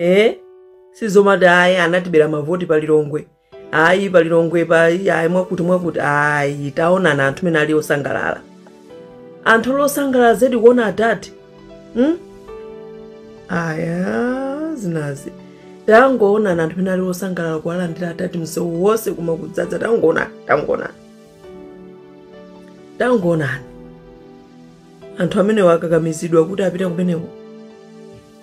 e sizomati ayi anatibera mavoti pa lilongwe ayi pa lilongwe pa ayi mwakuti mwakuti ayi taonana anthu mene ali osangalala anthu akusangalala zedi kuona adadi hmm? aya zinazi tangoonani anthu mene ali osangalala kuwalandira adadi msewu wonse koma kudzadza tangoonani tangoonani tangoonani anthu amene wakakamizidwa kuti apite kumeneko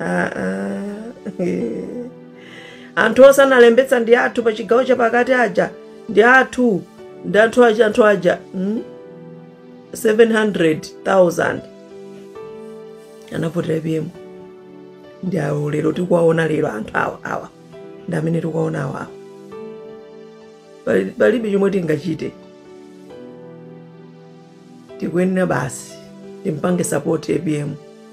Ah, ah. Anthu onse analembetsa ndi athu pa chigawo chapakati aja ndi athu ndi anthu aja anthu aja mm? 700,000 anavotera apm ndi awo lero tikuwaona lero anthu awa awa ndi amene tikuwaona awa awa Pali- palibe chomwe tingachite tikuyenera basi timpange sapoti apm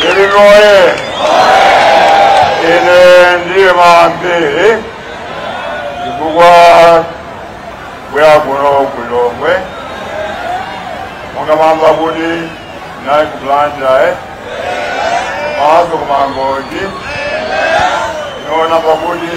Lilongwe oye. Ine ndiye mapiri chifukwa ndabwera kuno ku Lilongwe monga mwamva kuti ndinali ku Blantyre komanso ku Mangochi inoona pakuti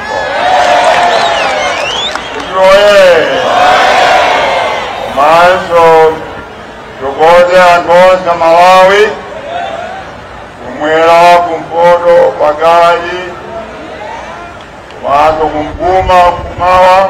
Oye! Maestro, tithokoze anthu onse a Malawi kumwera kumpoto pakati komanso kuvuma kumawa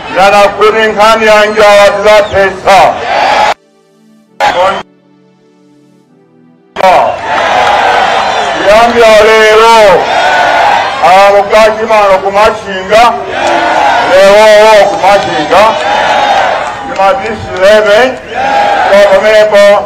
Ndanena kuti nkhani ya njala tizathetsa. Kuyambira lero alamukati mano kumachinga lewowo kumachinga ndi madisi 11 kwa pamenepo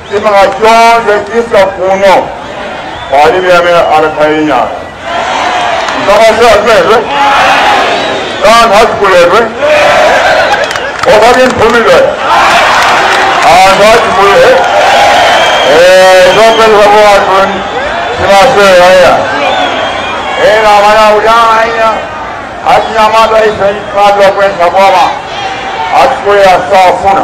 chimanga chonse chisa kuno palibe amene anakhaye nyama msamaseazimezwe kanthu azikulezwe osati mphumidwe anthu azikulire zopeza kuwathu simaseya ena amana ujaaiya achinyamata ife imadwa kwesa boma azikulira safuna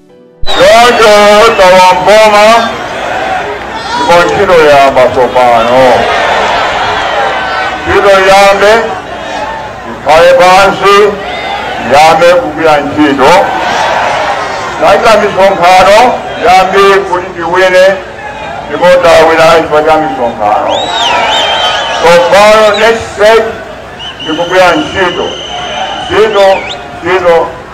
Choncho tatenga boma ndipo ntchito yamba tsopano. Ntchito iyambe ikhale pansi iyambe kugwira ntchito ndachita misonkhano yambiri kuti tiwine ndipo tawina chifukwa cha misonkhano. Tsopano next stage ndikugwira ntchito ntchito ntchito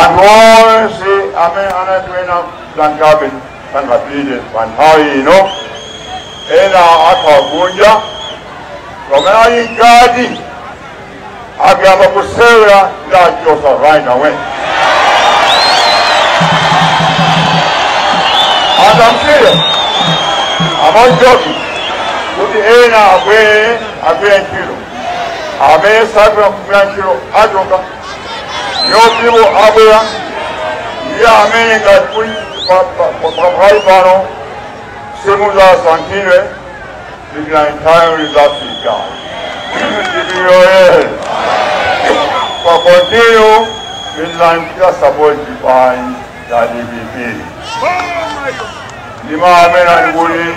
Anthu onse amene anati ena sangathe sangapite pa nthawi ino, ena akhala kunja, pamene ali mkati akayamba kusewera ndiwachotsa right away. And I'm serious. I'm not joking. Kuti ena abwere agwire ntchito amene sakutha kugwira ntchito achoka Ophiwo abwera ndiye amene ngati kuli pa- pa- pa- pakali pano simuzasankhidwe ndipo nthawi lizafika ndipiyoyere kwa kontiyo ndizanchita sapoti chipani cha dpp ndi amene ali kuli